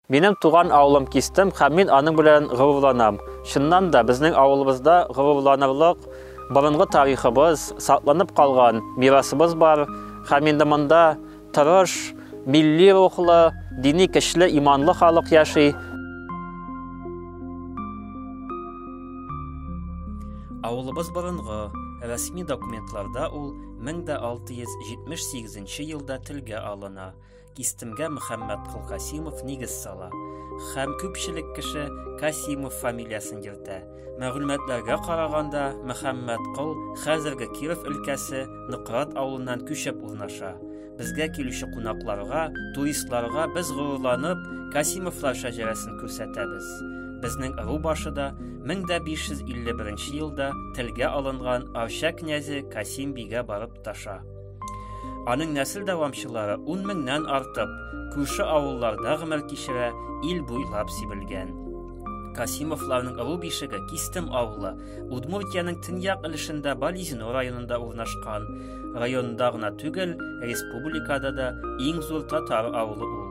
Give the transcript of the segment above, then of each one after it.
Минем туган авылым Кистем һәм мин аның белән горурланам. Чыннан да, безнең авылыбызда горурланырлык борынгы тарихыбыз, сакланып калган мирасыбыз бар һәм инде монда тырыш, милли рухлы, дини көчле, иманлы халык яши. Авылыбыз борынгы, рәсми документларда ул 1678 елда телгә алына. Кистемгә Мөхәммәт Кылкасимов нигез сала һәм күпчелек кеше Касимов фамилиясен йөртә. Мәгълүматларга караганда, Мөхәммәт Кол хәзерге Киров өлкәсе Ныкрат авылыннан күчеп урнаша. Безгә килүче кунакларга, туристларга без горурланып Касимовлар шәҗәрәсен күрсәтәбез. Безнең ыру башы да 1551 елда телгә алынган Арча князе Касим бигә барып таша. Аның нәсел дәвамчылары ун меңнән артып, күрше авылларда гомер кичерә, ил буйлап сибелгән. Касимовларның ыру бишеге Кистем авылы, Удмуртиянең төньяк өлешендә Бализино районында урнашкан. Районда гына түгел, республикада да иң зур татар авылы ул.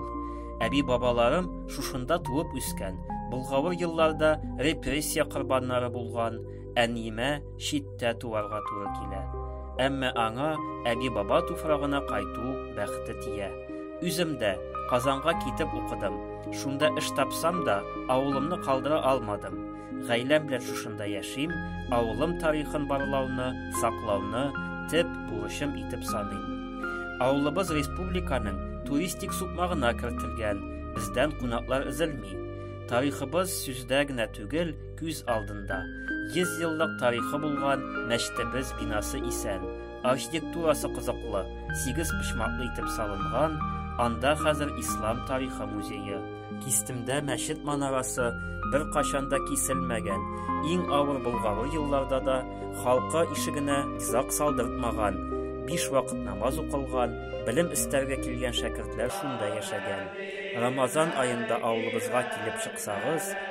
Әби бабаларым шушында туып үскән, Болгавыр елларда репрессия корбаннары булган, әниемә читтә туарга туры килә. Әмма аңа әби-баба туфрагына кайту бәхте тия. Үзем дә Казанга китеп укыдым. Шунда эш тапсам да, авылымны калдыра алмадым. Гаиләм белән шушында яшим, авылым тарихын барлауны, саклауны төп бурычым итеп саныйм. Авылыбыз республиканың туристик сукмагына кертелгән, бездән кунаклар өзелми. Тарихыбыз сүздә генә түгел, Күз алдында 100 еллык тарихы булган мәчетебез бинасы исән, архитектурасы кызыклы, сигез почмаклы итеп салынган, анда хәзер ислам тарихы музее. Кистемдә мәчет манарасы бер кашан да киселмәгән, иң авыр болгавы елларда да халкы ишегенә зак салдыртмаган, биш вакыт намаз укылган, белем эстәргә килгән шәкертләр шунда яшәгән. Рамазан аенда авылыбызга килеп чыксагыз,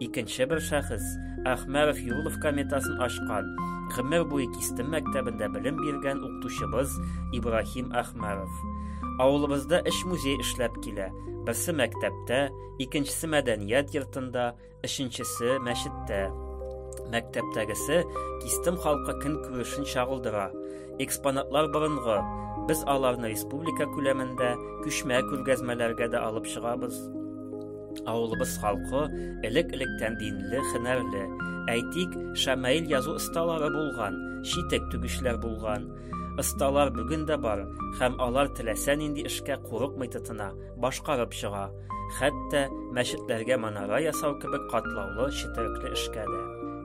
Икенче бер шәхес Әхмәров Юлов кометасын ашкан, гомер буе Кистем мәктәбендә белем биргән укытучыбыз Ибрахим Әхмәров. Авылыбызда эш музей эшләп килә. Берсе мәктәптә, икенчесе мәдәният йортында, өченчесе мәчеттә. Мәктәптәгесе Кистем халкы көн күрешен чагылдыра. Экспонатлар борынгы. Без аларны республика күләмендә күчмә күргәзмәләргә дә алып чыгабыз. Авылыбыз халкы элек-электән динле, хенәрле. Әйтик, Шамаил язу осталары булган, читек түгүчләр булган. Осталар бүген дә бар, һәм алар теләсә нинди эшкә курыкмый тотына, башкарып чыга. Хәтта мәчетләргә манара ясау кебек катлаулы четерекле эшкә дә.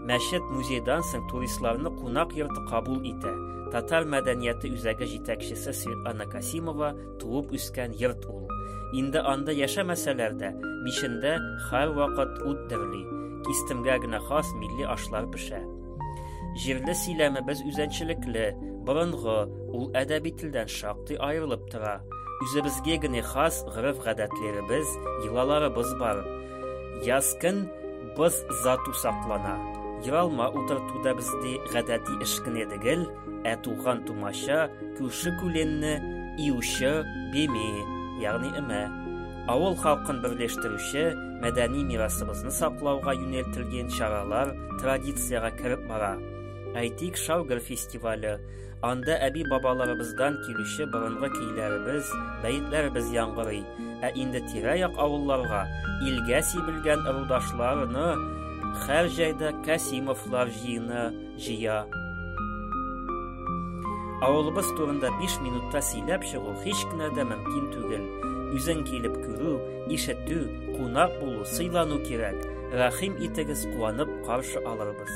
Мәчет музейдан соң туристларны кунак йорты кабул итә. Татар мәдәнияты үзәге җитәкчесе Светлана Касимова Туып үскән йорт ул. Инде анда яшәмәсәләр дә, мишендә һәрвакыт ут дөрли, кистемгә генә хас милли ашлар пешә. Җирле сөйләмебез үзенчәлекле, борынгы, ул әдәби телдән шактый аерылып тора. Үзебезгә генә хас гореф-гадәтләребез, йолаларыбыз бар. Яз көн боз зату саклана. Йолалма утырту да бездә гадәти эш кенә Ә туган тумача, күрше күленне июче беме, ягъни эмә. Авыл халкын берләштерүче, мәдәни мирасыбызны саклауга юнәлтелгән чаралар традициягә кереп бара. Әйтик, Шаугер фестивале. Анда әби-бабаларыбыздан килүче борынгы көйләребез, бәетләребез яңгырый. Ә инде тирә-як авылларга илгә сибелгән ырудашларны һәр җәйдә Кәсимовлар җыены, җыя. Авылыбыз турында 5 минутта сөйләп чыгу һич кенә дә мөмкин түгел. Үзең килеп күрү, ишетү, кунак булу, сыйлану кирәк. Рәхим итегез, куанып каршы алырбыз.